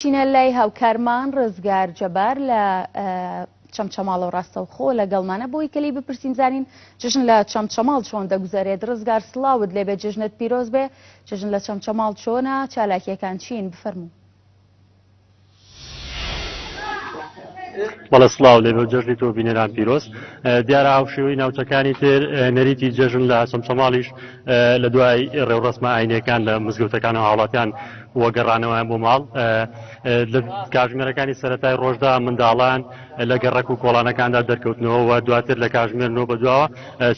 چینە لای هاوکارمان ڕزگار جەبار لە چەمچەماڵ و ڕاستەوخۆ لەگەڵمانە بۆی کەلی بپرسین زانین جژن لە چەمچەماڵ چۆن دەگوزارێت ڕزگار سڵاوت لێبێ جژنت پیرۆز بێ جژن لە چەمچەماڵ چۆنە چالاکیەکان چین بفەرموو بەڵە سلااو لێ بە جەژنی تۆ بینەران پیرۆست دیارە هاوشێوەی ناوچەکانی تر نەریتی جەژن لە سەمچەماڵیش لە دوای ڕێوڕسمە ئاینەکان لە مزگەوتەکان و هاوڵاتیان و گەڕانەوەیان بۆ ماڵ. لە کاژمێرەکانی سەرەتای ڕۆژدا منداڵان لە گەڕەک و کۆڵانەکاندا دەرکەوتنەوە و دواتر لە کاژمێر نۆ بەدواوە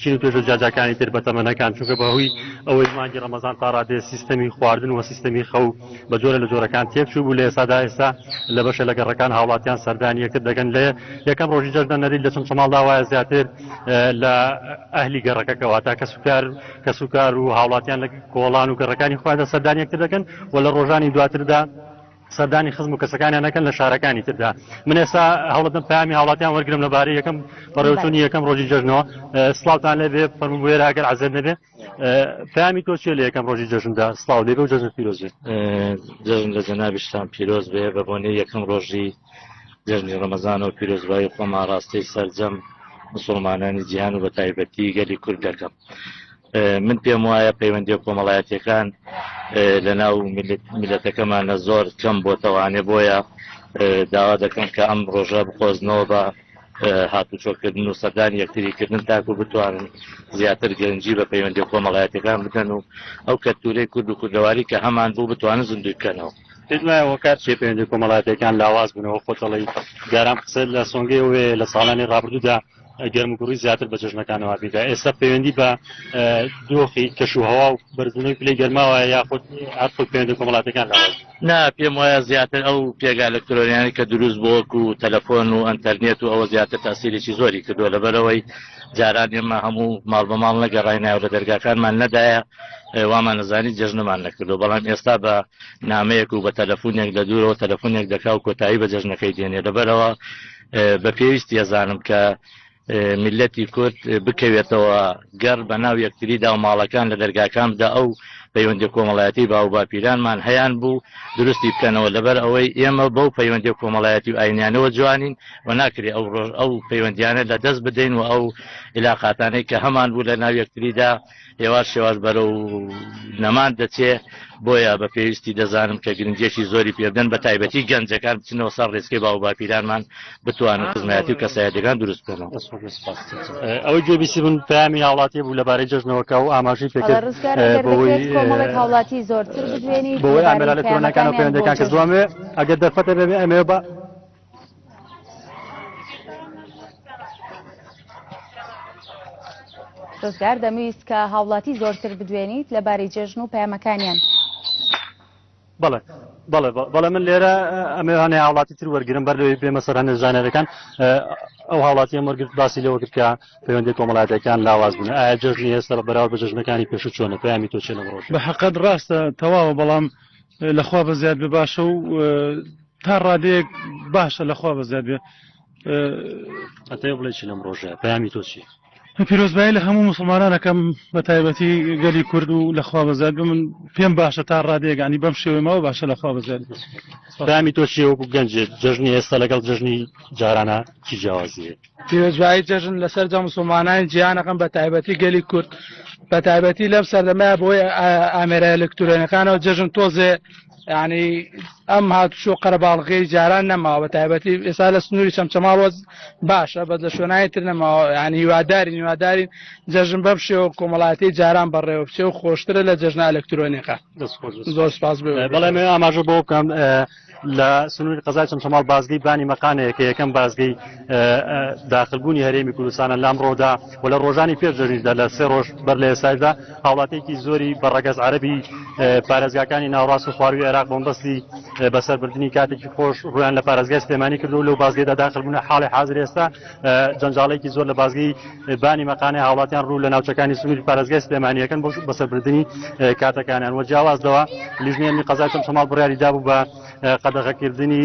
چین و توێژە جیاجاکانی تر بە تەمەنەکان چونکە بەهۆی ئەوەی مانگی ڕەمەزان تا ڕادەیە سیستەمی خواردن و سیستەمی خەو بە جۆرە لە جۆرەکان تێکچوو بوو لە ئێستادا ئێستا لە بەشێ لە گەڕەکان هاوڵاتیان سەردانی یەکتر دەکەن لە یەکەم ڕۆژی جەژنە نەریت لە چەمچەماڵدا وایە زیاتر لە ئەهلی گەڕەکەکە واتە کەسوکار کەسوکار و هاوڵاتیان لە کۆڵان و گەڕەکانی خۆیاندا سەردانی یەکتر دەکەن و لە ڕۆژانی دواتردا سەردانی خزم و کەسەکانیان نەکەن لە شارەکانی تردا من ئێستا هەوڵەتم پامی هاوڵاتیان وەرگرم لەبارەی یەکەم بەڕێوتونی یەکەم ڕۆژی جەژنەوە سلااوان لێبێ فەرمو بێرە ئەگەر عزێت نەبێ پامی تۆ چێ لە یەکەم ڕۆژی جەژندا سلااو لێبێ و جەژن پیرۆز بێ جەژن لە جەنابیشتان پیرۆز بێ بە بۆنێ یەکەم ڕۆژی جەژنی ڕەمەزان و پیرۆزبایی خۆما ڕاستەی سەرجەم مسلمانانی جیهان و بە تایبەتی گەلی کورد دەکەم من پێم وایە پەیوەندی کۆمەڵایەتەکان لە ناو میلەتەکەمانە زۆر کەم بۆتەوانێ بۆیە داوا دەکەم کە ئەم ڕۆژە بخۆزنەوە بە هاتوچۆکردن و سەدان یەکتریکردن تاکو بتوانن زیاتر گەنجی بە پەیوەندی کۆمەڵایەتەکان بدەن و ئەو کەتورەی کورد و کوردەواری کە هەمان بوو بتوانن زیندوی بکەنەوە پێنایەوە کار چێ پەیوەندی کۆمەڵاتەکان لاواز بنەوە خۆتەڵی جاران قسە لە سۆنگەی وێ لە ساڵانی ڕابردوودا گەرموگوڕی زیاتر بە جژنەکانەوە بێدا ئێستا پەیوەندی بە دۆخی کەش و هەوا و بەرزبوونەوەی پلی گەرماوە یاخود هەر خۆ پەیوەندی کۆمەڵاتەکان نا پێم وایە زیاتر ئەو پێگا لەکتۆریانی کە دروست بۆک و تەلەفۆن و ئەتەرنێت و ئەوە زیاتر تاسیرێکی زۆری کردو لەبەرەوەی جاران ئێمە هەموو ماڵ بە ماڵ نەگەڕای ناو لە دەرگاکانمان نەدایە وامان نزانی جژنەمان نەکردو بەڵام ئێستا بە نامەیەک و بە تەلەفۆنێک لە دوورەوە تەلەفۆنێک دەکا و کۆتایی بە جژنەکەی دێنێ لەبەرەوە بە پێویست یەزانم کە میلەتی کورد بکەوێتەوە گەڕ بە ناو یەکتریدا و ماڵەکان لە دەرگاکان بدا ئەو پەیوەندی کۆمەڵایەتی باو باپیرانمان هەیان بوو دروستی بکەنەوە لەبەر ئەوەی ئێمە بەو پەیوەندی کۆمەڵایەتی و ئاینیانەوە جوانین و ناکرێ ئەو ڕۆژ ئەو پەیوەندیانە لە دەست بدەین و ئەو علااقاتانەی کە هەمان بوو لە ناو یەکتریدا هێواش هێواش بەرە و نەمان دەچێ بۆیە بە پێویستی دەزانم کە گرنجێکی زۆری پێبدەن بە تایبەتی گەنجەکان بچنەوە سەر ڕێسکی باو باپیرانمان بتوانن خزمەتی و کەسایەتەکان دروست بکەن ئەوەی گوێبیسی من پامی هاوڵاتی بوو لەبارەی جژنەوەکە و ئاماژی پێکرد هاوڵاتی زۆرتر بۆی ئامرالەتەکان و پەیوەندەکان کە دوامێ ئەگەر دەرفەتە بێ ئەمێ بە ڕزگار دەمویست کە هاوڵاتی زۆرتر بدوێنیت لە باری جێژن و پەیامەکانیان بەڵێ بەڵێ بەڵێ من لێرە ئەمەوانێ هاوڵاتی تر وەرگرم بەر لەوەی بێمە سەر هەندێک زانەرەکان ئەو هاوڵاتی ئەم وەرگرت باسی لەوە کرد کە پەیوەندی کۆمەڵاتەکان لاواز بوون ئایا جژنی هێستا بە بەراو بە جژنەکانی پێشو چۆنە پەیامی تۆ چێنە ڕۆژ بە حقت ڕاستە تەواوە بەڵام لە خوا بەزیاد بێ باشە و تا ڕادەیەک باشە لە خوا بەزیاد بێ ئەتێ بڵێ چی لەم ڕۆژە پامی تۆ چی پیرۆزبایی لە هەموو مسلمانانەکەم بە تایبەتی گەلی کورد و لەخوا بەزیاد بە من پێم باشە تا ڕادێگانی بەم شێوەی ماوە باشە لەخوا بەزیاد پامی تۆ چی وەکو گەنجێت جژنی ئێستا لەگەڵ جژنی جارانە چی جیاوازیە پیرۆزبایی جەژن لە سەرجەم مسلمانانی جیهان ئەکەم بە تایبەتی گەلی کورد بە تایبەتی لەم سەردەمەیە بۆی ئامێرە ئەلکترۆنەکانەوە جەژن تۆزێ ینی ئەم هاتوچۆ قەرەباڵغی جاران نەماوە بە تایبەتی ئێستا لە سنووری چەمچەماڵ وەز باشە بەس لە شوێنانی تر نەماوە ینی هیوادارین هیوادارین جەژن بەم شێوە کۆمەڵاتی جاران بەڕێوە بچێ و خۆشترە لە جەژنە ئەلکترۆنیەکە دەست خۆش بەس. زۆر سپاس بێ بەڵێ ئاماژە بۆ بکەم لە سنووری قەزای چەمچەماڵ بازگەی بانی مەقانەیە کە یەکەم بازگەی داخلبوونی هەرێمی کوردستانە لام ڕۆدا و لە ڕۆژانی پێش جەژنیشدا لە سێ ڕۆژ بەر لە ئێستاشدا هاوڵاتێکی زۆری بە ڕەگەز عەربی پارێزگاکانی ناوڕاست و خواروی عێراق بۆمبەستی بەسەربردننی کاتێکی خۆش ڕویان لە پارێزگای سلێمانی کردو لەو بازگەدا داخلبوون حاڵی حاضر ئێستا جەنجاڵێکی زۆر لە بازگەی بانی مەقانەی هاوڵاتیان ڕوو لە ناوچەکانی سنووری پارێزگای سلێمانیەکەن بۆ بەسەربردننی کاتەکانیان وە جیاوازەوە لیژنێنی قەزای چەم شەماڵ بڕیاری دابوو بە قەدەغەکردنی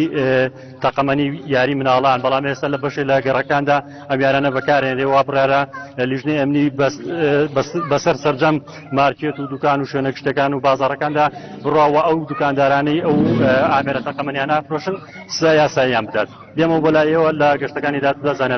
تەقەمەنی یاری مناڵان بەڵام ئێستا لە بەشێ لە گەڕەکاندا ئەمیارانە بەکارێنێ وا بڕارە لیژنێ ئەمنی بەسەر سرجەم مارکێت و دوکان و شوێنە گشتەکان و بازارەکاندا بڕاوە ئەو دوکاندارانەی ئەو ئامێرە تەقەمەنیانە فرۆشن سزا یاساییان بدات دێمە بۆ لایەوە لە گەشتەکانی دادگا زانەرە